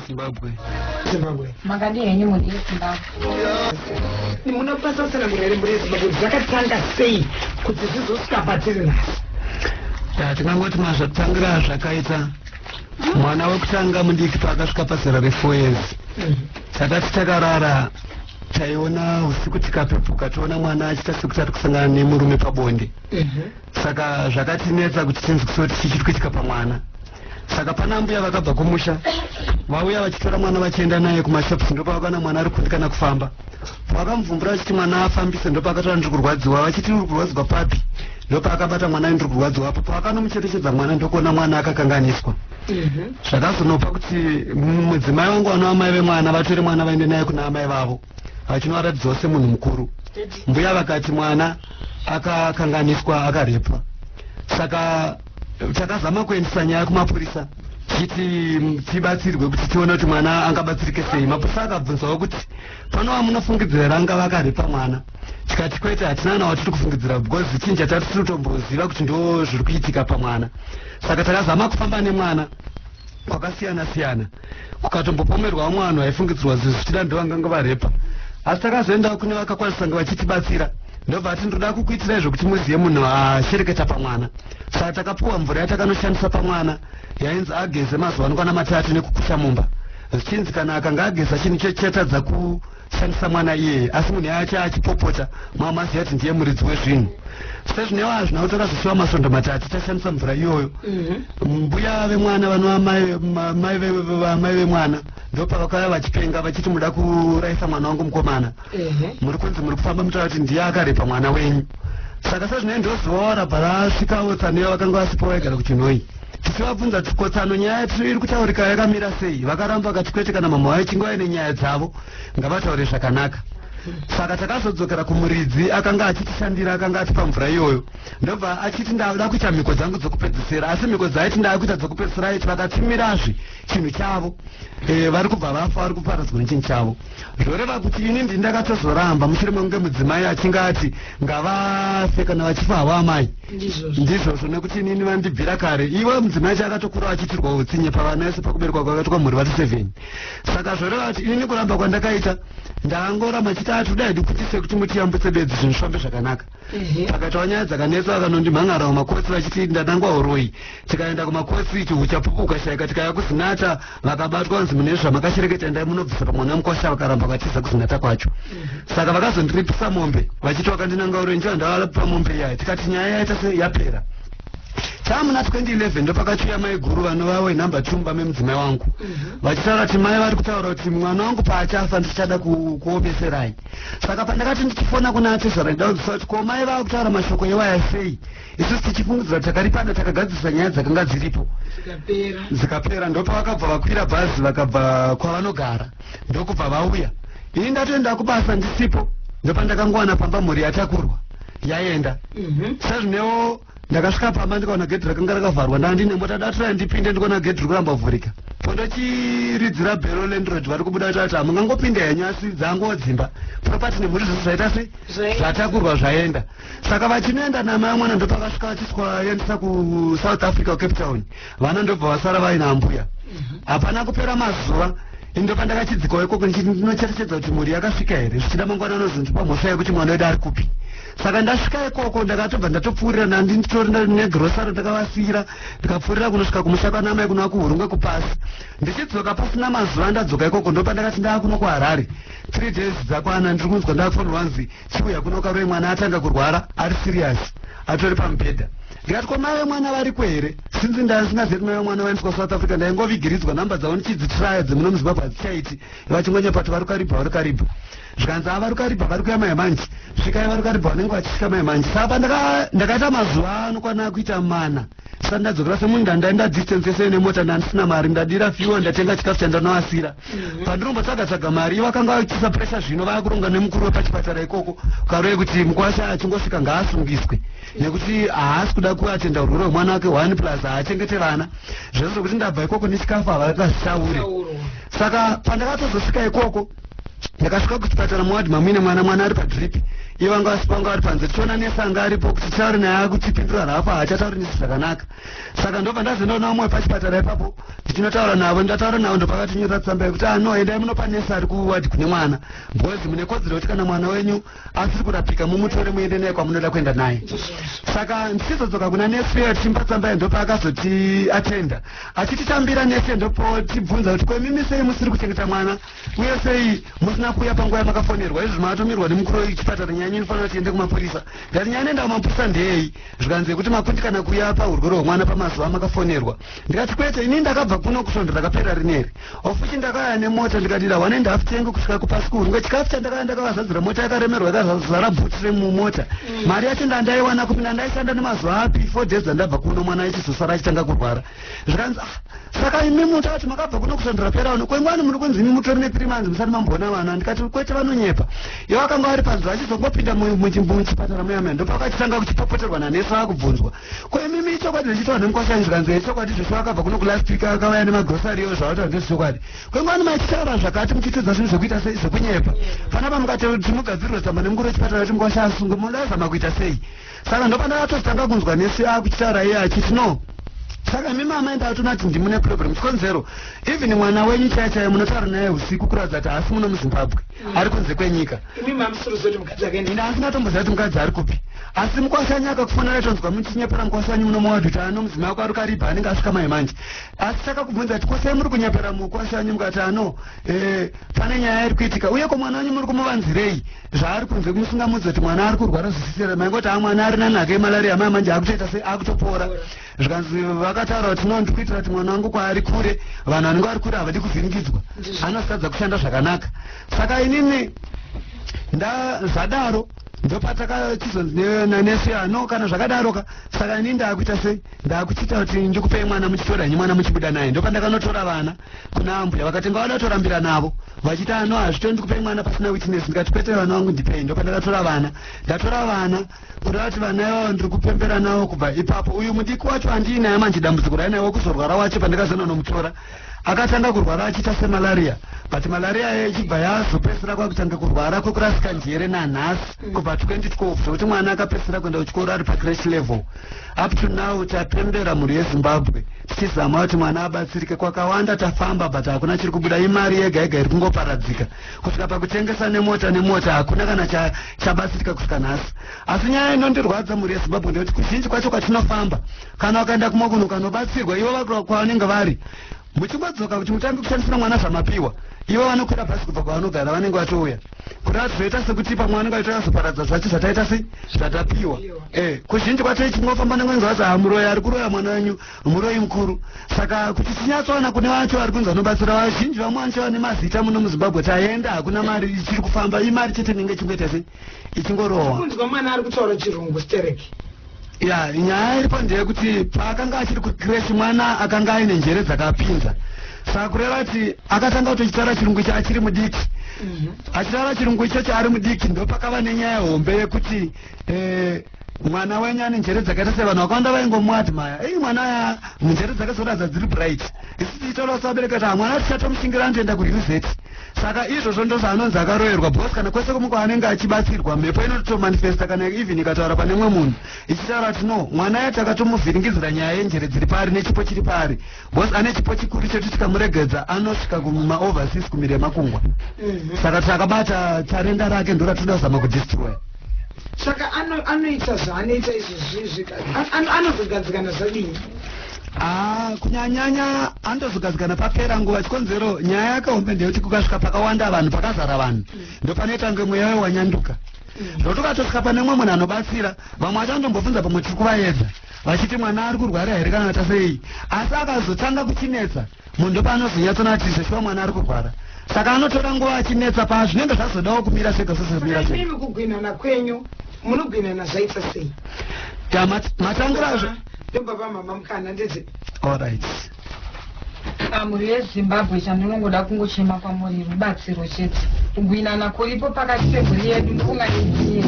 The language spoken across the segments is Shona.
Zimbabwe. Zimbabwe. Makadi henyu mudi Zimbabwe. Ni muna pasa sana murere muri Zimbabwe dzakatanga sei kuti zizosvika patiri na. Ya tingangoti mazvatangira zvakaita mwana wekutanga mudiki paakasvika pazera re 4 years. Mm. Takati takarara taiona usiku tikapepuka toona mwana achiita sekuti ari kusangana nemurume pabonde. Mm -hmm. Saka zvakatinetsa kuti tinzwisise kuti chichiri kuitika pamwana. saka pana ambuya vakabva kumusha vauya vachitora mwana vachienda naye kumashops ndopavakana mwana ari kundikana kufamba vakamubvumbura vachiti mwana afambise ndopaakatora ndiri kurwadziwa vachiti uri kurwadziwa papi ndopaakabata mwana ndiri kurwadziwa apo paakanomucherechedza mwana ndokuona mwana akakanganiswa mhm. zvakazonopa kuti mudzimai wangu wanoamai vemwana vatore mwana vaende naye kuna amai vavo achinoaratidzwa semunhu mukuru mbuya vakati mwana akakanganiswa akarepwa saka takazama kuendesa nyaya kumapurisa tichiti mm, tibatsirwe kuti tione kuti mwana angabatsirike sei mapurisa akabvunzawo kuti pano vamunofungidzira here angava akaripa mwana tikati kwete hatina kana watiri kufungidzira because chinhu chatati tiri kutomboziva kuti ndo zviri kuitika pamwana saka takazama kufamba nemwana kwakasiyana siyana kukatombopomerwa vamwe vanhu vaifungidzirwa zvinhu zvichida ndovanganga varepa asi takazoendawo kune vakakwanisa kunge vachitibatsira ndobva ati ndoda kukuitirai zvekuti muzive munhu ashereketa pamwana saka takapuwa mvura yatakanoshandisa pamwana yainzi ageze mazuva anokwana matatu nekukusha mumba zvichinzi kana akanga ageza chinhu icho chichatadza ku shandisa mwana iyeye asi munhu yacho achipopota mama aziva kuti ndiye muridzi wezvinhu sezvinewo hazvina kuti akazosiwa masvondo matatu tashandisa mvura iyoyo mhm. mbuya vemwana vanova mai vemwana ndopavakauya vachipenga vachiti muda kuraisa mwana wangu mukomana mhm. muri kunzi muri kufamba mutaura kuti ndiye akarepa mwana wenyu saka sezvinei ndozivawo rabva rasvika otsaneyo vakanga vasipo vaigara kuchinhoyi tichivabvunza kuti kotsano nyaya yatiri iri kutaurika yakamira sei vakaramba vakati kwete kana mamwe vavo ichinge vaine nyaya dzavo ngavataure zvakanaka saka takazodzokera kumuridzi akanga achitishandira akanga atipa mvura iyoyo ndobva achiti ndada kuita mhiko dzangu dzokupedzisira asi mhiko dzaaiti ndada kuita dzokupedzisira aiti vakatimirazve chinhu chavo e, vari kubva vafa vari kuparadzwa nechinhu chavo zvoreva kuti ini ndi ndakatozoramba mushure mekunge mudzimai achinge ati ngavafe kana vachifa havo amai ndizvozvo nekuti inini vandibvira kare iwe mudzimai acho akatokura achiitirwa utsinye pavana yese pakuberekwa kwakaitwa mhuri vati seven saka zvoreva kuti inini kuramba kwandakaita ndangoramba chitatu dai ndikutise kuti mutiyambutse bedzi zvinhu zvifambe zvakanaka pakataura nyaya dzakanetsa vakanondimhan'ara kumakosi vachiti ndanangwa huroyi tikaenda kumakosi chihu chapupu ukashaika tikaya kuzinata vakabatwa vanzi mune zvamakashereketa ndai munobvisa pamwana wemukwasha vakaramba vatiza kuzinata kwacho saka vakazondiripisa mombe vachiti wakandinanga huroyi ndicho andavalapipa mombe iyaya tikati nyaya yaita se yapera chamuna 2011 ndopakachiuya mai guru vanova wenumber two mumba memudzimai wangu vachitaura kuti mai vari kutaura kuti mwana wangu paachafa ndichada kuomeserai saka pandakati ndichifona kuna atezvara ndida kunzwisa kuti ko mai vava kutaura mashoko iwaya sei isusu tichifungidzira kuti takaripana takagadzirisa nyaya dzakanga dziripo dzikapera ndopavakabva vakwira bhazi vakabva kwavanogara ndokubva vauya ini ndatoenda kubasa ndisipo ndopandakangowana pamba mhuri yatakurwa yaenda mhm. sezvinewo ndakasvika pamba ndikaona gedhi rakanga rakavharwa ndandine mota datraya ndipinde ndikuona gedhi ri kuramba vhurika pondochiridzira bhero lendroid vari kubuda vati ati hamungangopinde hanyasi dzango dzimba propati nemhuri zvese zvaita sei zvatakurwa zvaenda saka vachinoenda namai mwana ndopakasvika vachiswa yendisa kusouth africa cape town vana ndobva vasara vaina ambuya hapana kupera mazuva ndo pandakachidzikawo ikoko ndinocherechedza kuti mhuri yakasvika here zvichida mangwana anozondipa mhosva yekuti mwana wedu ari kupi saka ndasvika ikoko ndakatobva ndatopfuurira nandi nditori negrosari ndakavasiyira ndikapfuurira kunosvika kumusha kwanamai kunova kuhurungwe kupasi ndichidzoka pasina mazuva ndadzoka ikoko ndopandakati ndava kuno kuharare three days dzakwana ndiri kunzwa ndakafonirwa nzi chiuya kuno karoi mwana atanga kurwara ari serious atori pamubhedha ndikati ko mai vemwana variko here sinzi ndaisingazivi kuti mai vemwana vaendiswa south africa ndaingovigiridzwa nhamba dzavo ndichidzitraya dzemuno muzimbabwe hadzichaiti vachingonyepa kuti vari karibha vari karibha zvikanzi ava vari karibha vari kuya mai manje svikai vari karibha vanenge vachisvika mai manje saka ndakaita mazuva anokwana kuita mana saka ndadzokera semunhu ndandai ndadistensese nemota ndandisina mari ndadira fuel ndatenga chikafu chandanoasira mhm. pandiromba tsagatsvaga mari ivo akanga achiisa pressure zvino vava kuronga nemukuru wepachipatara ikoko karove kuti mukwasha achingosvika ngaasungiswe nekuti haasi kuda kuatenda urwere hwemwana wake one plus haachengete vana zvese zvekuti ndabva ikoko nechikafu havakazvitaure saka pandakatozosvika ikoko ndakasvika kuchipatara muwadhi mamuine mwana mwana ari padrip iye vanga vasi panga vari panze tichiona nese anga aripo kuti titauri naye akuchipindura raapo haachatauri nisi zvakanaka saka ndobva ndazendaona vamwe pachipatara ipapo ndichinotaura navo ndataura navo ndopakatinyorera tsamba yekuti ano endai munopa nese ari kuwadhi kune mwana bhozi mune kodzero yekuti kana mwana wenyu asiri kurapika mumutore muende naye kwamunoda kuenda naye saka ndichizodzoka kuna nesi uyo tichimba tsamba ndopaakazoti atenda achititambira nesi ndopo tibvunza kuti kwemimi sei musiri kuchengeta mwana uye sei musina kuuya panguva yamakafonerwa izvi maatomirwa nemukuru wechipatara nyaya yenyu inofanira tiende kumapurisa ndati nyaya inoenda kumapurisa ndeyei zvikanzi yekuti makundikana kuuya pahurwere hwemwana pamazuva amakafonerwa ndikati kwete ini ndakabva kuno kusvondo rakaperera rineri Of which ndakauya nemota ndikati ndahwa nendafu tengu kusvika kupasikuru ngechikafu chandakauya ndakavazadzira mota yakaremerwa yakazara bhuti remumota mm. mari yacho ndandaiwana kupi ndandaishanda nemazuva api four days dzandabva kuno mwana achizosara achitanga kurwara zvikanzi ah saka imi muta kuti makabva kuno kusandura pera uno kwengwani muri kunzi imi mutori nepiri manzi musati mamboona vana ndikati kwete vanonyepa ivo akanga vari panzira achizongopinda muchipatara muyamaya ndopakachitanga kuchipopoterwa nanesi vakubvunzwa Ko imimi ichokwadi zvichitaura nemukwasha izvo kanzi ichokwadi zvisu akabva kuno kulast week akauya nemagrocery yo zvavataura ndezvichokwadi kwengwani machitaura zvakati muchitiudza zvinhu zvekuita sei zvekunyepa panapa mukati kuti mugadzirwe tsamba nemukuru wechipatara kuti mukwasha asungwe munozama kuita sei saka ndopanakatotanga kunzwa nesi akuchitaura iye achiti no saka imi mama enda atona kuti ndimune problem chikonzero even mwana wenyu chaichaye munotaura naye usiku kuratidza kuti haasi muno muzimbabwe ari kunze kwenyika imi mamusuruzoti mukadzi wake ini asina tomboziva kuti mukadzi ari kupi asi mukwasha wanyu akakufonera tonzwa muchinyepera mukwasha wanyu muno mwawa kuti ano mudzimai wako ari kariba anenge asvika mai manje asi takakubvunza kuti kosei muri kunyepera mukwasha wanyu mukati ano eh, pane nyaya iri kuitika uye ko mwana wanyu muri kumuvanzirei zvaari kunze kumusingamudzi kuti mwana ari kurwara zvisisera maingoti a mwana ari nanhaka yemalariya mai manje akutoita sei akutopora zvikanzi vakataura kuti no ndikuitira kuti mwana wangu kwaari kure vanhu vanenge vari kure havadi kuvhiringidzwa anotadza kushanda zvakanaka saka inini ndazvadaro ndopatakachizonzi nanesi ano kana zvakadaroka saka ini ndaakuita sei ndaakuchiita kuti ndikupei mwana muchitora nyi mwana muchibuda naye ndopandakanotora vana kuna ambuya vakatenga vada kutorambira navo vachiti ano hazvito ndikupei mwana pasina witness ndikati kwete vana vangu ndipei ndopandakatora vana ndatora vana kuda kuti vana ivavo ndiri kupembera navo kubva ipapo uyu mudiki wacho handiinaye manje dambudziko rainaye wekuzorwara wacho pandakazoenda nomutora akatanga kurwara achiita semalaria but malaria yayo ichibva yazopedzisira kwakutanga kurwara kwekurasika njere nanhasi mm. kubva 2012 zvekuti mwana akapedzisira kuenda kuchikoro ari pacrash level up to now tapembera mhuri yezimbabwe tichizama kuti mwana abatsirike kwakawanda tafamba but hakuna chiri kubuda imari yega yega iri kungoparadzika kusvika pakutengesa nemota nemota hakuna kana chabatsirika kusvika nhasi asi nyaya inondirwadza mhuri yezimbabwe ndeyoti kuzhinji kwacho kwatinofamba kana ukaenda kumwe kunhu ukanobatsirwa ivo vakura kwavanenge vari muchingodzoka kuti mutange kushandisira mwana zvamapiwa ivo vanokwira bhasi kubva kwavanogara vanenge vatouya kuti vatizoita sekuti pamwe vanenge vaita kazoparadza zvacho zvataita sei zvatapiwa e eh, kuzhinji kwacho ichinofamba nemwenzi vazi hamuroya ari kuroya mwana wenyu muroyi mukuru saka kuti tinyatsoona kune vacho vari kunzi vanobatsira vazhinji vamwe vanocho vane mazita muno muzimbabwe taenda hakuna mari ichiri kufamba imari chete inenge ichingoita sei ichingorohwa kunzwa mwana ari kutaura chirungu stereki ya nyaya iripo ndeyekuti paakanga achiri kucresh mwana akanga aine njere dzakapinza saka kureva kuti akatanga kutochitaura chirungu icho achiri mudiki mhm. achitaura chirungu ichocho ari mudiki ndopakava nenyaya hombe yekuti eh, mwana wenyu ane njere dzakaita sei vanhu vakawanda vaingomuadmaya ii mwana aya njere dzake dzoratidza dziri bright isi tichitaura kuti vabereki kuti hamwana tichatomushingira anotoenda kuuz saka izvozvo ndo zvaanonzi akaroyerwa bcause kana kwese kumwe kwaanenge achibatsirwa mhepo inotomanifesta kana even ikataura pane mwe munhu ichitaura kuti no mwana aya takatomuvhiringidzira nyaya yenjere dziri paari nechipo chiri paari bcause ane chipo chikuru chetu tikamuregedza anosvika kumaoverseas kumiri yemakungwa mhm. saka takabata tarenda rake ndoratinoda kuzama kudistroya saka anoita zvaanoita izvozvizvi anozogadzikana zvadini Ah, kunyanyanya andozogadzikana papera nguva chikonzero nyaya yakahombe ndeyekuti kukasvika pakawanda vanhu pakazara vanhu mm. ndopanoita kunge mweya wayo wanyanduka mm. zvekuti ukatosvika pane mumwe munhu anobatsira vamwe vacho andombobvunza pamwe tiri kuvaedza vachiti mwana ari kurwara here kana ta sei asi akazotanga kuchinetsa munhu ndopaanozonyatsonatizve shuwa mwana ari kurwara saka anotora nguva achinetsa paa zvinenge zvazodawo kumira sega sesezomira sega kugwinhana kwenyu munogwinhana zvaita sei matangura zve ndobaba mama mukana ndizve allright Ah, mhuri yezimbabwe chandinongoda kungochema kwamuri rubatsiro chete kubwinana kuripo pakati pemhuri yedu ndikungaidii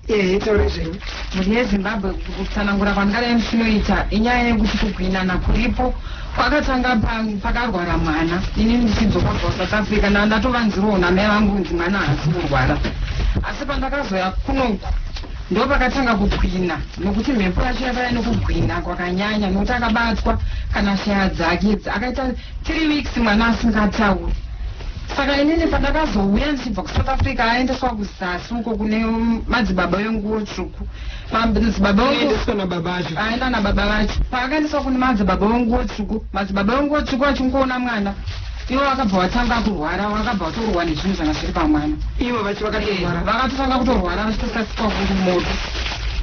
ehe taura zvenyu mhuri yezimbabwe kutsanangura kwandingadai ndichinoita inyaya yekuti kubwinana kuripo Pakatanga pang pakarwara mwana ini ndichidzoka kubva kuSouth Africa ndanga ndatovanzirwawo namai vangu kunzi mwana haasi kurwara asi pandakazoya kunoku ndopakatanga kukwina nokuti mhepo yacho yakaya nokugwina kwakanyanya nokuti akabatwa kana shaya dzake idzi akaita three weeks mwana asingatauri saka inini pandakazouya ndichibva kusouth africa aendeswa kuzasi uko kune madzibaba venguwo tsvuku Pambinzi baba vangu Ndaiendeswa nababa vacho. aenda nababa vacho paakaendeswa kune madzi baba vangu votsvuku madzi baba vangu votsvuku vachingoona mwana ivo vakabva vatanga kurwara vakabva vatorwa nezvinhu zvanga zviri pamwana Ivo vacho vakatorwara. vakatotanga kutorwara vachitosasikwa kumoto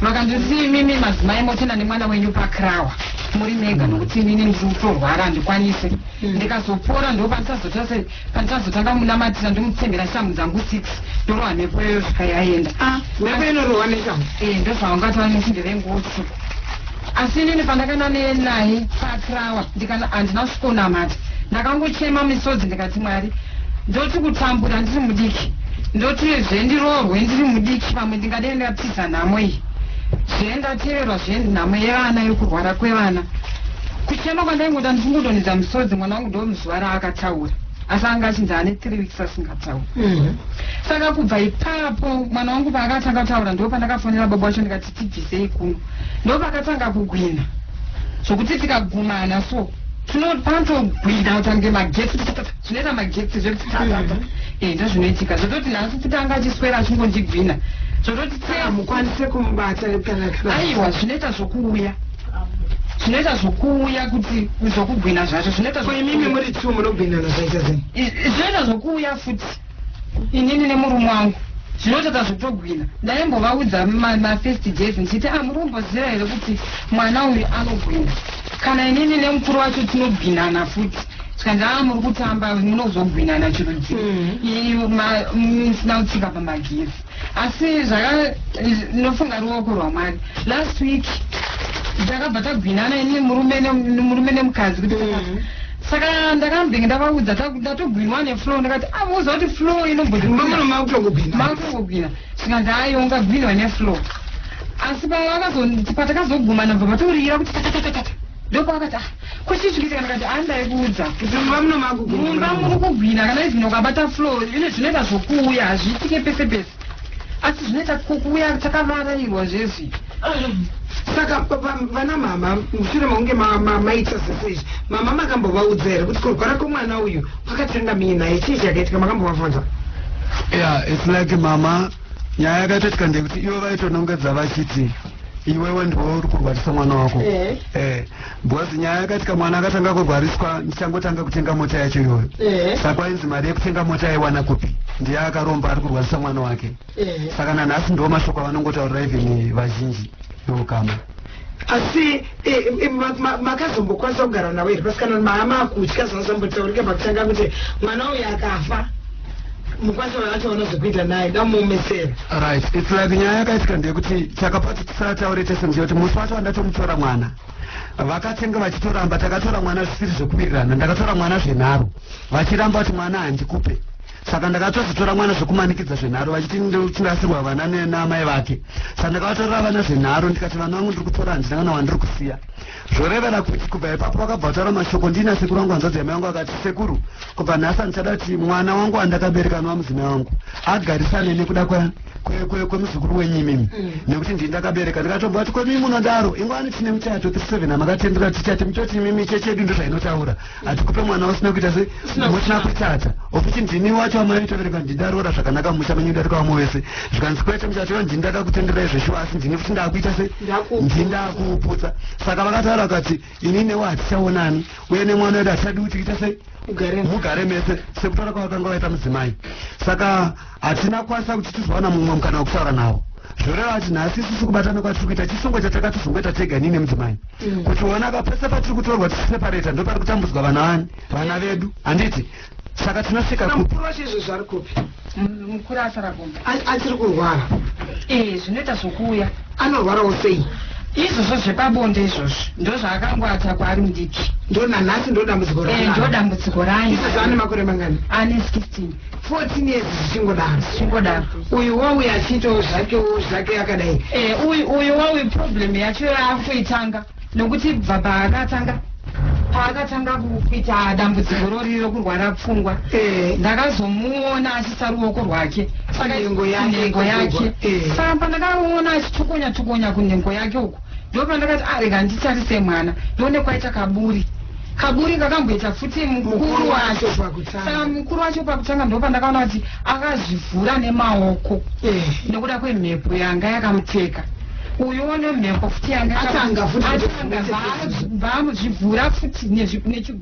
vakandisi imimi madzimai motenda nemwana wenyu pakrawa muri mega nokuti inini ndiri kutorwara handikwanise ndikazopora ndopandisazota sei pandikazotanga kumunamatira ndomutsengera shamhu dzangu six ndorohwa mhepo iyoyo zvika yaenda ah, mhepo inorohwa neshamhu e eh, ndozvaungatova nesinde vengosu asi inini pandakanane naye pakrawa ndikana handina kusvikonamata ndakangochema misodzi ndikati mwari ndoti kutambura ndiri mudiki ndoti zvendiroorwe ndiri mudiki pamwe ndingadei ndatiza nhamo iyi zvendateverwa zvenhamo yevana yokurwara kwevana kuchema kwandaingoda ndichingudonhedza misodzi mwana wangu ndomuzuva raakataura asi anga achinzi ane three weeks asingataura mhm. saka kubva ipapo mwana wangu paakatanga kutaura ndo pandakafonera baba wacho ndikati tibvisei kuno ndo pakatanga kugwina zvokuti tikagumana so tinopanotogwina kutange magetsi zvinoita magetsi zvekuti mhm. eh, ndozvinoitika zvototi nhasi futi anga achiswera achingondigwina zvototi ah, mukwanise kumubata aiwa zvinoita zvokuuya zvinoita zvokuuya kuti zvokugwina zvacho zvinoita ko imimi muri two munogwinana zvaita zeni zvinoita zvokuuya futi inini nemurume wangu zvinotadza zvotogwina ndaimbovaudza mafirst days ndichiti a ah, muri kumboziva here kuti mwana uyu anogwina kana inini nemukuru wacho tinogwinana futi tikanzi a ah, muri kutamba munozogwinana chirudziro mm. ii musina kutsika pamagiri asi zvaka ndinofunga ruoko rwamwari last week takabva tagwinana ini murume murume nemukadzi kuti mm. saka ndakambenge ndavaudza ndatogwinwa neflow ndakati amuuza ah, kuti flow inombodimaakutongogwina zvikanzi ayi ungagwinwa neflow asi patakazoguma nabva vatoririra kuti tatatatata ndopaakati ah kwachisvikisa kana kati andai kuudza kuti mumba muno magugu mumba muri kugwina kana izvino ukabata flow ine zvinoita zvokuuya hazviitike pese pese asi zvinoita kukuuya takavarairwa zvezvi saka vana mama mushure maunge maita zese izvi mama makambovaudza here kuti kurwara kwemwana uyu kwakatanga mii naye chii chakaitika makambovavhunza ya its like mama nyaya yakatoitika ndekuti ivo vaitonongedza vachiti iwewe ndiwe uri kurwarisa mwana wako eh. Eh. Bhozi nyaya yakati kamwana akatanga kurwariswa ndichangotanga kutenga mota yacho iyoyo eh. saka ainzi mari yekutenga mota aiwana kupi ndiye akaromba ari kurwarisa mwana wake eh. saka nanhasi ndo mashoko avanongotaurira even vazhinji nokama asi eh, eh, makazombokwanisa kugara navo here pasikana mahama akutya zvazambotaurika pakutanga kuti mwana uyu akafa mukwanisa vacho vanozokuita naye damuomesera right its like nyaya yakaitika ndeyekuti chakapati tisataure tese ndiyekuti musi wacho wandatomutora mwana vakatenge vachitoramba takatora mwana zvisiri zvekuwirirana ndakatora mwana zvenharo vachiramba kuti mwana handikupe saka ndakatozotora mwana zvekumanikidza zvenharo vachiti ndochingasirwa vana namai vake saka ndakavatorera vana zvenharo ndikati vana vangu ndiri kutora handina kana wandiri kusiya zvorevera kuti kubva ipapo vakabva kutaura mashoko ndiina sekuru vangu hanzvadzi yamai vangu vakati sekuru kubva nhasi handichada kuti mwana wangu andakabereka anovamudzimai wangu agarisane nekuda kwa kwemuzukuru wenyu imimi mm. nekuti ndii ndakabereka ndikatobva kuti kwemimi munodaro ingwani tine muchato 37 amakatendera tichati muchoti imimi chechedu ndo zvainotaura mm. hatikupe mwana usina kuita se musina kutata okuti ndini wacho amaitobereka ndindaroora zvakanaka mumusha menyu ndarika wamwe wese zvikanzi kwete muchato yo ndini ndakakutendera izveshuwa asi ndini futi ndakuita se ndini ndakuputsa saka vakataura vakati ini newe hatichaonani uye nemwana wedu hatichadi kuti ita se mugare mese sekutaura kwavakanga vaita mudzimai saka hatina kukwanisa kuti tizowana mumwe mukana wekutaura nawo zvoreva kuti nhasi isusu kubatana kwatiri kuita chisungo chatakatizongoita tega ini nemudzimai mm. kuti ona ka pese patiri kutorwa tichiseparata ndo pari kutambudzwa vana vani vana vedu handiti saka tinosvika mukuru wacho izvo zvari kupi mukuru asaragomba achiri kurwara ee zvinoita zvokuuya anorwarawo sei izvozvo zvepabonde izvozvo ndozvaakangoata kwaari mudiki ndonanhasi ndodambudziko eh, ndodambudziko rayo ane makore mangani ane 16 14 years zvichingodaro zvichingodaro uyu wawi achiitawo zvake wo zvake akadai eh, uyu uyu wawi problem yacho yaakuitanga nokuti bva paakatanga paakatanga kuita dambudziko rori rokurwara pfungwa eh. ndakazomuona achisa ruoko rwake sakanhengo yake eh. saka pandakaona achitukonya tukonya kunhengo yake uku ndopandakati ah rega nditarise mwana ndione kwaita kaburi kaburi kakamboita futi mukuru wacho saka mukuru wacho pakutanga ndopandakaona kuti akazvivhura nemaoko eh. nekuda kwemhepo yanga yakamuteka uyu one mhepo futi yangaatanga futi bva amuzvivhura futi nechigwa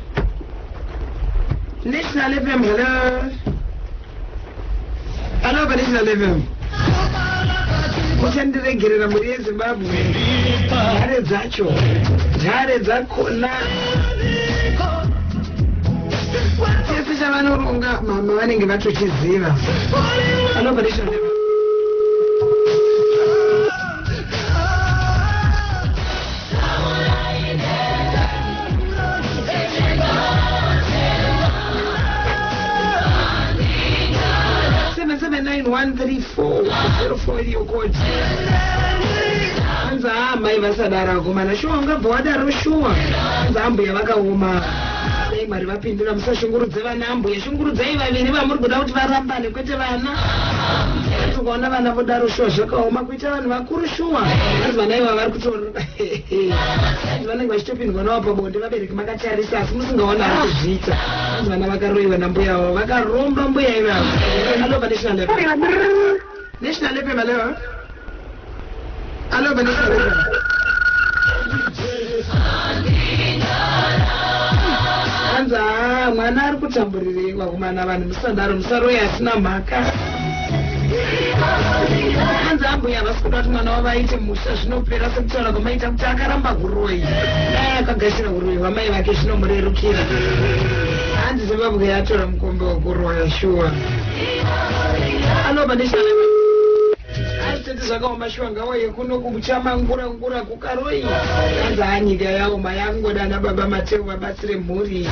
National FM, hello. Hello, pa National FM. Muchandiregerera mhuri yeZimbabwe. Nhare dzacho. Nhare dzakona. Chese chavanoronga mama vanenge vatochiziva. Hello, pa National FM. anzi haa mai vasadaro akomana shuwa ungabva wadaro shuwa anzi ambuya vakaoma dai mwari vapindura musashungurudze vana ambuya shungurudzai vaviri vamuri kuda kuti varambane kwete vana ukaona vana vodaro shuwa zvakaoma Ita vanhu vakuru shuwa vanhu vana iva vari kutoona vanhu vanenge vachitopindwa nawo pabonde vabereki makatarisa asi musingaona ari kuzviita vanhu vana vakaroiwa nambuya vavo vakaromba mbuya ivavo anova national level national level malewa anova national level hanzi haa mwana ari kutamburirei vakomana vanhu musadaro musaroya asina mhaka hanzi ambuya havasi kuda kuti mwana wavo aite musha zvinopera sekutaura kwamaita kuti akaramba huroyi dai akagashira huroyi hwamai vake zvinomurerukira hanzi zimbabwe yatora mukombe wekuroya shuwa anoba neshana aitete zvakaoma shuwa ngawa yekuno kuchamangura ngura Karoi hanzi haa nyika yaoma yakungoda ana baba mateu vabatsire mhuri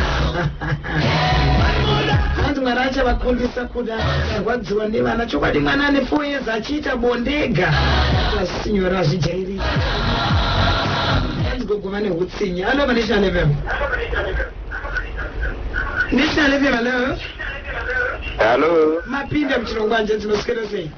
hanzi mwana achavakundisa kuda arwadziwa nevana chokwadi mwana ane four years achiita bondega azvisinyora azvijairika hanzi gogo vane utsinye alo vanational fm national fm alo halo mapinda muchirongwa nje dzinoswera sei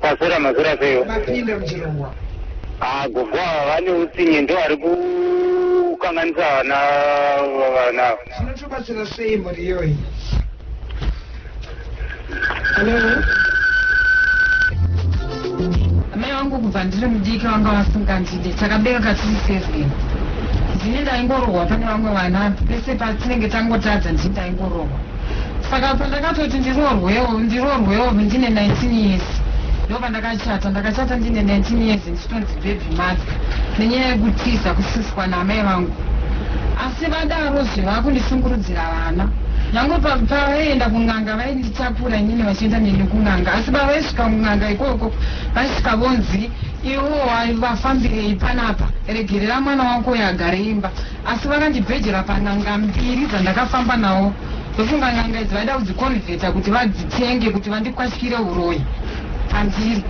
Kwazera mazera seyo. Vapinda muchirongwa. Ah, gogo ava vane utsinye ndo vari kukanganisa vana vana. Zvinotobatsira sei mhuri iyoyi? Hello. Mai wangu kubva ndiri mudiki vanga vasingandide takabereka tiri seven ndini ndaingorohwa pane vamwe vana pese patinenge tangotadza ndini ndaingorohwa saka pandakatoti ndiroorwewo ndiroorwewo ndine 19 years ndo pandakachata ndakachata ndine 19 years ndichitonzi bhebhi madya nenyaya yekutiza kusiswa naamai vangu asi vadaro zve vakundishungurudzira vana nyange pavaienda kun'anga vainditakura inini vachienda neni kun'anga asi pavaisvika kun'anga ikoko vaisvika vonzi iwo vafambirei panapa regerera mwana wako uyo agare imba Asi vakandibhejera pan'anga mbiri dzandakafamba nawo ndofunga n'anga idzi vaida kudzikonvheta kuti vadzitenge kuti vandikwatyire huroyi pandiri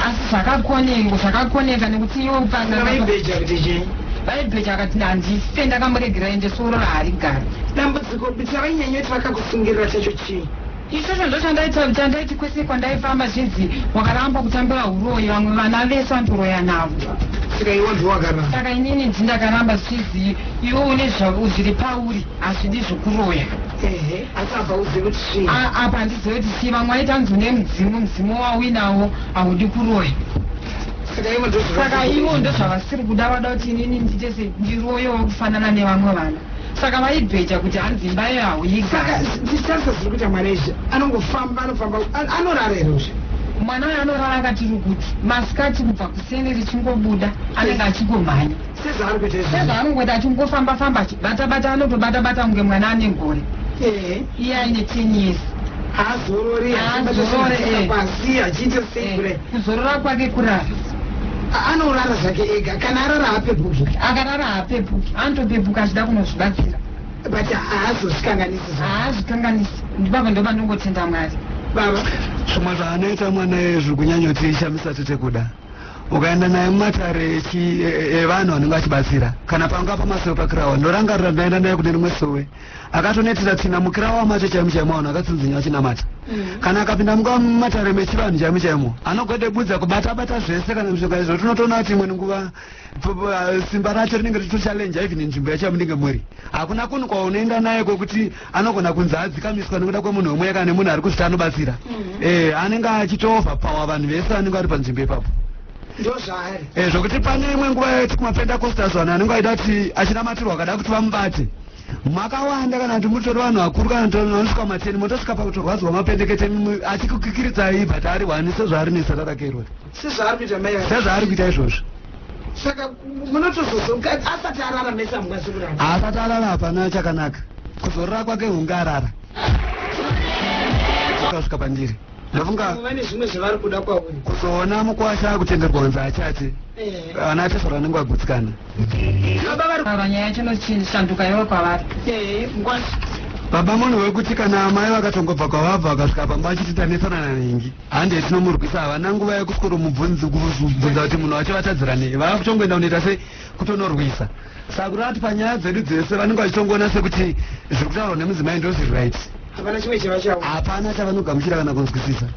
asi zvakakonengo zvakakoneka nekuti iwo pan'anga Vaibheja kuti chii? vaibheja vakati handife ndakamuregera ende soro raharigari Dambudziko bsa vainyanyoti vakakusungirira chacho chii? Ichocho ndochandaita chandaiti kwese kwandaifamba zvinzi wakaramba kutambira huroyi vamwe vana vese andoroya navo saka iwe wanzi wakaramba saka inini ndzi ndakaramba zvichizii iwe une zvavo zviri pauri hazvidi zvokuroya ehe asi apa uzivi kuti chii A- apa handizive kuti chii vamwe waita nzi une mudzimu mudzimu wauinawo haudi kuroya saka iwe ndozvaka saka ivo ndozvavasiri kuda vada kuti inini ndiite se ndiroyewo kufanana nevamwe vana saka vaibheja kuti hanzi imba yayo hauyigarisaka ziri kuita mwana izvi anongofamba anofamba anorara here uzvi mwana uyo anorara akati rukuti masikati kubva kuseni richingobuda anenge achingomhanya sezaanongoita achingofamba famba achibatabata anotobata bata kunge mwana ane ngore iye aine ten years haazorore eh. kuzorora kwake kurara anorara zvake ega kana arara haapepuki akarara haapepuki anotopepuka achida kunozvibatsira but haazozvikanganisi haazvikanganisi ndibaba ndoba ndongotenda mwari baba zvimwe zvaanoita mwana ye zviri kunyanyotiishamisa tete kuda ukaenda naye mumatare evanhu anenge achibatsira kana panga pamasowe pakirawa ndorangarira ndaenda naye kune rimwe sowe akatonetera tsina mukira wamacho chaimo chaimo vanhu akatsinzinya vachinamata mm. kana akapinda munguva matare mechivanhu chaimo chaimo anogode budza kubata bata zvese kana mishonga izvo tinotoona kuti imweni nguva uh, simba racho rinenge ritochalenja even nzvimbo yacho yamunenge muri hakuna kunhu kwaunoenda naye kwekuti anogona kunzi adzikamiswa nekuda kwemunhu wemweya kana nemunhu ari kuzvita anobatsira mm. e, anenge achitoova pawa vanhu vese vanenge vari panzvimbo ipapo ndozvaari e, zvokuti pane imwe nguva yati kumapendacostas vanhu anenge aida kuti achinamatirwa akada kuti vamubate makawanda kana kuti mutori vanhu vakuru kana kuti vanosvika mateni motosvika pakutorwadzwa mapendekete asi kukikiridza ibva taari wani sezvaari nesatarakerwe sezvaari kuita izvozvo saka munotozozokadzi asati arara mesa mungazikurara asati arara hapana chakanaka kuzorora kwake hunge arara kasvika pandiri ndafunga vane zvimwe zvavari kuda kwauri kuzoona mukwasha akutengerwa kunzi achati eh. ana atesora anenge agutsikana baba nyaya yacho inochishanduka iwe kwavari eh, mukwasha baba munhu wekuti kana amai vakatongobva kwavabva vakasvika pamba vachititanetsana nanhingi hande tinomurwisa havana nguva yekuswero mubvunzi kubvunza kuti munhu wacho vatadzira nei vava kutongoenda kunoita sei kutonorwisa sakuru ati panyaya dzedu dzese vanenge vachitongoona sekuti zviri kutaurwa nemudzimai ndo zviri right hapana chimwe chiva chavo hapana chavanogamuchira kana kunzwisisa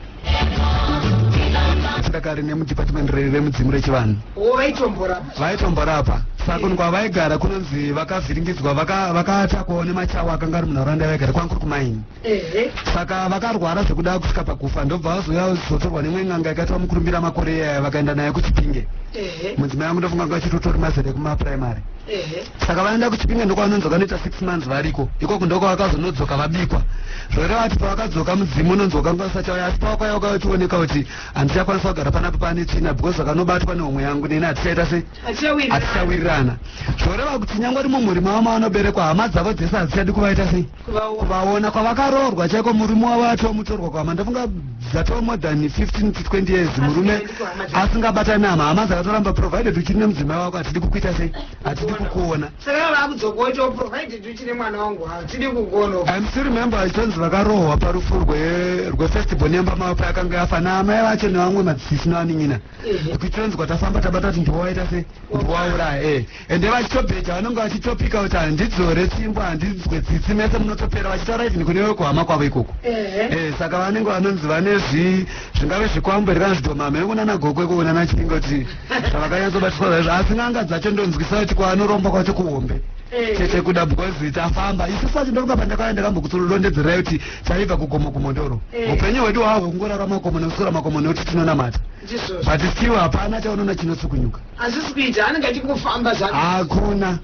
sikakare nemudepartment remudzimu rechivanhu wo vaitomborapa vaitomborapa sakuni kwavaigara kunonzi vakavhiringidzwa vaka- vakatakwawo nemachawa akanga ari munharaunda yavaigara kwanga kuri kumaini Ehe. Saka vakarwara zvekuda kusvika pakufa ndobva vazouya kuzotorwa nemwe n'anga yakaitwa mukurumbira makore iyaya vakaenda naye kuchipinge. Ehe. Mudzimai wangu ndofunga anga achitotori mazera ekumaprimary. Ehe. Saka vaenda kuchipinge ndokwavanonzi vakanoita six months variko. Ikoko ndoko vakazonodzoka vabikwa. Zvoreva kuti pavakadzoka mudzimu unonzi wakanga usachauya asi pawakauya wakauya uchioneka kuti handichakwanisa kugara panapa pane tsvina because vakanobatwa nehomwe yangu neni hatichaita sei Achawirirana. hatichawirirana. Zvoreva kuti nyangwe rimwe mhuri mavo mavanoberekwa hama dzavo dzese hadzichadi kuvaita sei. vaona kwavakaroorwa chaiko murume wavo atova mutorwa kwama ndofunga dzatova more than 15 to 20 years murume asingabatani nama hama dzakatoramba provided uchiri nemudzimai wako hatidi kukuita sei hatidi kukuona im still remember ichonzi vakarohwa parufu rwefestival nemba mavo payakanga yafa naamai vacho nevamwe madzisisi nevanin'ina kuchonzi kwatafamba tabata kuti ndiwawaita sei ndiwauraya e eh. ende vachitobheja vanonge vachitopika kuti handidzore tsvimbo handinzwe tsitsi mese munotopera vachitaura even kune vekuhama kwavo ikoko eh, saka vanenge vanonzi vane zvi zvingave zvikwambo here kana zvidomama yangu nana gokwe kuona nachinga kuti zvavakanyatsobatiswa zvaizvo asi n'anga dzacho ndonzwisa kuti kwaanoromba kwacho kuhombe eh. chete kuda because it's afamba isu facho ndoruka pandakauya ndakambokutsolondedzerai kuti chaibva kugomo kumondoro eh. upenyu hwedu hahwo kungorara makomo nekusora makomo nekuti tinonamata but still hapana chaunoona chinotsukunyuka Hazvisi kuita anenge achingofamba zvake. Hakuna.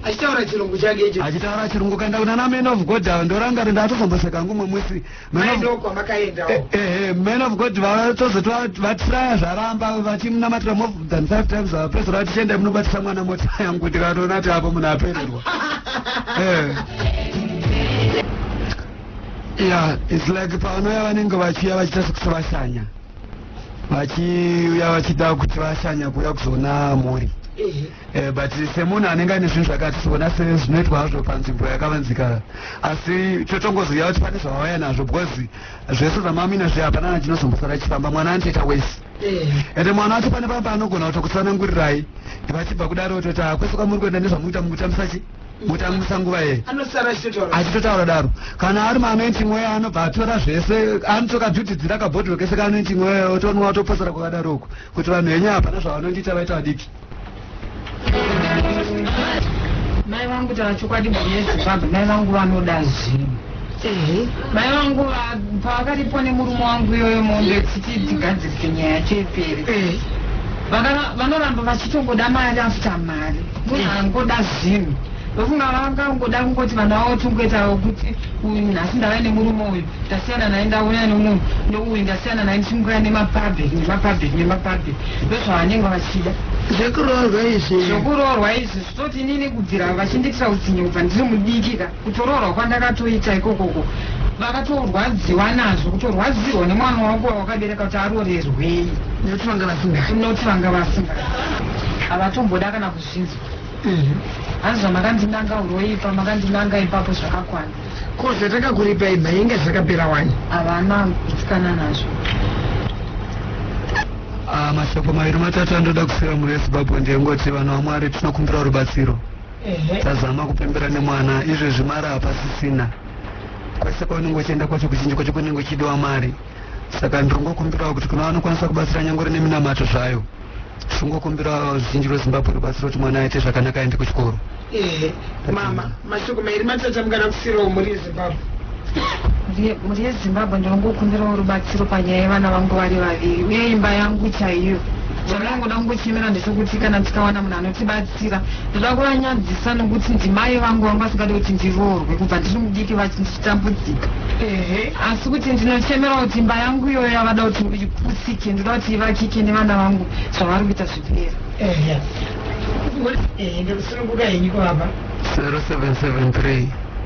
Achitaura chirungu chake icho. Achitaura chirungu kanda kuna na man of God ava ndoranga rinda atozomboseka hangu mwe mwisi. Man of God kwamakaenda. Eh, eh, eh, man of God vatozoti vatiraya zvaramba vachimunamatira more than 5 times ava pesa vati chenda munobatisa mwana mota yangu tikatoona ti apo munhu apererwa. Eh. Yeah, it's like pavanouya vanenge vachiya vachita sekuvashanya. vachiuya vachida kuti vashanya kuuya kuzoona mhuri eh, but semunhu anenge ane zvinhu zvakati tiona se zvinoitwa hazvo panzvimbo yakavanzika asi totongoziva kuti pane zvavauya nazvo because zvese zvamamina zviya hapana na chinozombosara chifamba mwana anotoita wese ende mwana wacho pane pamba anogona kutokusanangurirai vachibva kudaro toti hakwese kwamuri kuenda nezvamuita mukutambisa chi mutangisa nguva yei anosara achitotaura achitotaura daro kana ari maanointing weya anobva atora zvese anotokadhutidzira kabhodhiro kese kaanointing weya otonwa otoposera kwakadaro uku kuti vanhu venyu hapana zvavanondiita vaita vadiki mai vangu tava chokwadi mhuri yezimbabwe mai vangu vanoda zvinhu Ehe. Mai vangu va- pavakaripo nemurume wangu iyoyo mombe kuti tigadzirise nyaya yacho ipere. Eh. Vakara- Vanoramba vachitongoda mari after mari. Munhu angoda zvinhu. Ndofunga vakangoda kungoti vana vavo tongoitawo kuti uyu nhasi ndave nemurume uyu ndasiyana naye ndauya nemunhu ndouyu ndasiyana naye ndichimukuya nemapabheki nemapabheki nemapabheki ndozvavanenge vachida zvekuroorwa izvi zvokuroorwa izvi zvitoti inini kubvira vachindiitira utsinye kubva ndiri mudiki ka Kutoroorwa kwandakatoita ikokoko vakatorwadziwa nazvo kutorwadziwa nemwana wangu wawakabereka kuti arorerwei nekuti vanga vasinga noti vanga vasinga havatomboda kana kuzvinzwa hanzi zvamakandinanga uroipa makandinanga ipapo zvakakwana ko zvatakakuripei mainge zvakapera wani havana kuitsikana nazvo Ah, mashoko maviri matatu andoda kusira mhuri yezimbabwe ndeyengoti vanhu vamwari tinokumbirawo rubatsiro tazama kupembera nemwana izvezvi mari hapasisina kwese kwaunenge uchienda kwacho kuzhinji kwacho kunenge uchidiwa mari saka ndirongokumbirawo kuti kuna vanokwanisa kubatsira nyangore neminamato zvayo tingokumbirawo zhinji rwezimbabwe rubatsiro kuti mwana aite zvakanaka aende kuchikoro mama mashoko mairi matata mukana kusiro murizi Mhuri yeZimbabwe ndinongokumbirawo rubatsiro panyaya yevana vangu vari vaviri uye imba yangu chaiyo. Chandinongoda kungochemera ndechekuti kana tikawana munhu anotibatsira, ndoda kuvanyadzisa nokuti ndimai vangu vanga vasingade kuti ndiroorwe kubva ndiri mudiki vachitambudzika. Ehe. Asi kuti ndinochemera kuti imba yangu iyoyo yavada kuti iputsike, ndoda kuti ivakike nevana vangu zvavari kuita zvipera. Ehe. Ehe, ndokusununguka henyu kovapa. 0773